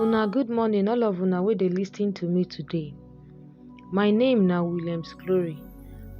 Una good morning all of una wey dey listen to me today. My name na Williams Glory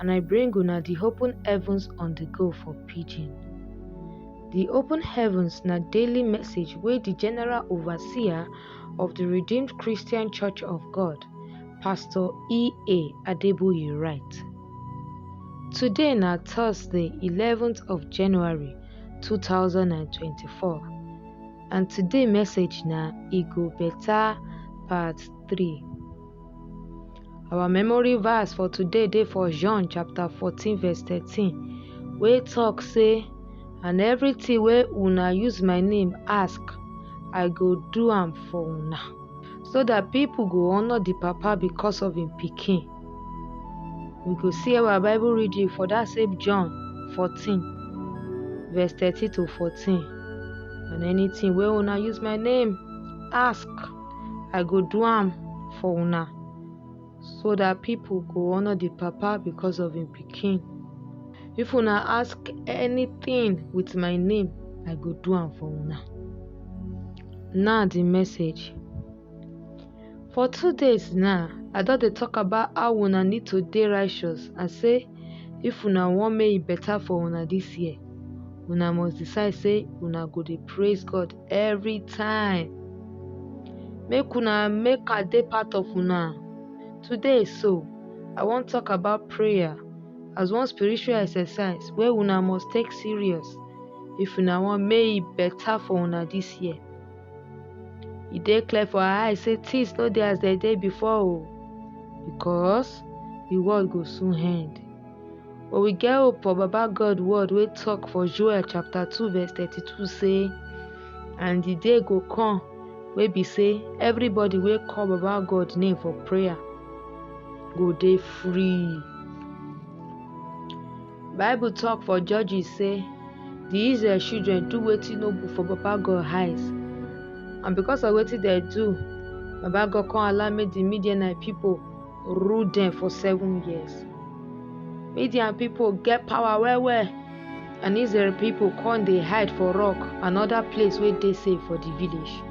and I bring una the open heavens on the go for pidgin. The open heavens na daily message wey the general overseer of the Redeemed Christian Church of God, Pastor E.A. Adeboye write. Today na Thursday 11th of January 2024. and today message na e go better part 3 our memory verse for today dey for john chapter 14 verse 13 wey talk say and everything wey una use my name ask i go do am for una so that people go honour the papa because of him pikin We go see our Bible reading for that same John 14, verse 30 to 14. And anything where una use my name, ask, I go do am for una, so that people go honor the Papa because of him picking. If una ask anything with my name, I go do am for una. Now the message. For two days now, I don dey talk about how una need to dey righteous and say if una wan make e better for una this year, una must decide say una go dey praise God every time. Make una make I dey part of una. Today so, I wan talk about prayer as one spiritual exercise wey una must take serious if una wan make e better for una this year. e dey clear for our eyes say things no dey as dem dey before o because the world go soon end. But we get hope for Baba God word wey talk for Joel chapter 2 verse 32 say, And the day go come wey be say everybody wey call Baba God name for prayer go dey free. bible tok for judges sey di israel children do wetin no good for baba god eyes and because of wetin dem do baba god come allow make di midianite pipo rule dem for seven years midian pipo get power well well and israel pipo come dey hide for rock and oda place wey dey safe for di village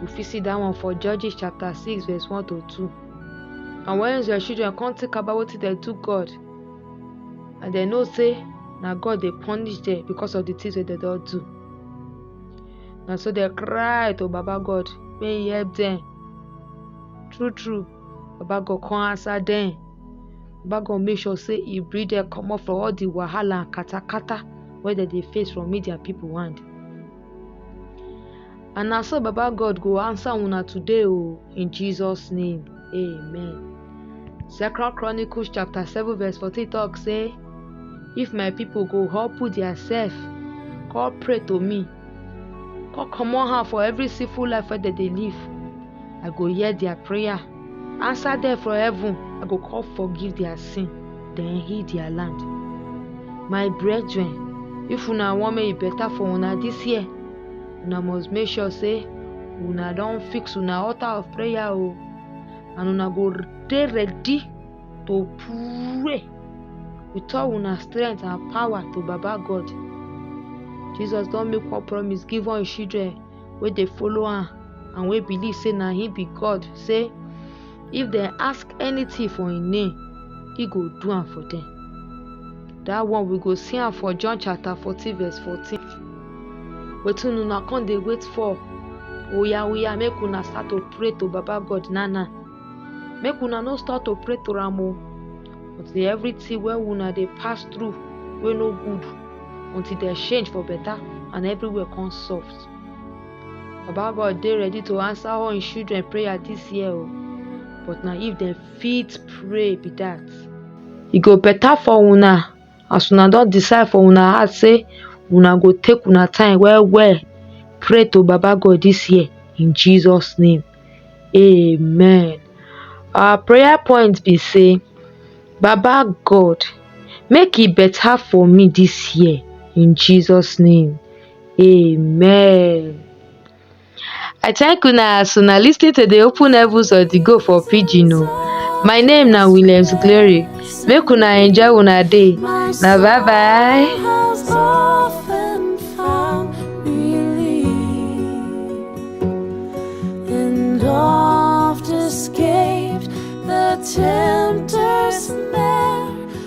we fit see dat one for judges chapter six verse one to two and wen israel children come think about wetin dem do god and dem know say na God dey punish them because of the things wey dem don do. Na so dem cry to Baba God make he help them. True true, Baba God come answer them. Baba God make sure say he bring them comot from all the wahala and katakata wey dem dey face from media people hand. And na so Baba God go answer una today o in Jesus name. Amen. Second Chronicles chapter 7 verse 14 talk say, If my people go humble theirself, call pray to me, call comot hand for every sinful life wey dem dey live, I go hear their prayer, answer them from heaven, I go call forgive their sin, then heal their land. My brethren, if una wan make e better for una this year, una must make sure say una don fix una altar of prayer o oh. and una go dey ready to pray with all una strength and power to baba god jesus don make one promise give all him children wey dey follow am and wey believe say na him be god say If they ask anything for his name, he go do am for them. That one we go see am for John chapter 14 verse 14. Wetin una come dey wait for? Oya oya make una start to pray to Baba God now now. Make una no start to pray to am o. Until everything wey una dey pass through wey no good until dem change for better and everywhere come soft. baba god dey ready to answer all im children prayer dis year o but na if dem fit pray be dat e go better for una as una don decide for una heart say una go take una time well well pray to baba god dis year in jesus name amen our prayer point be say baba god make e better for me dis year in jesus name Amen. I thank una as una lis ten to the open heavens of the go for pidgin o. My name na Williams Glory. Make una enjoy una day. Na bye bye. has often found relief and oft escaped the tempter's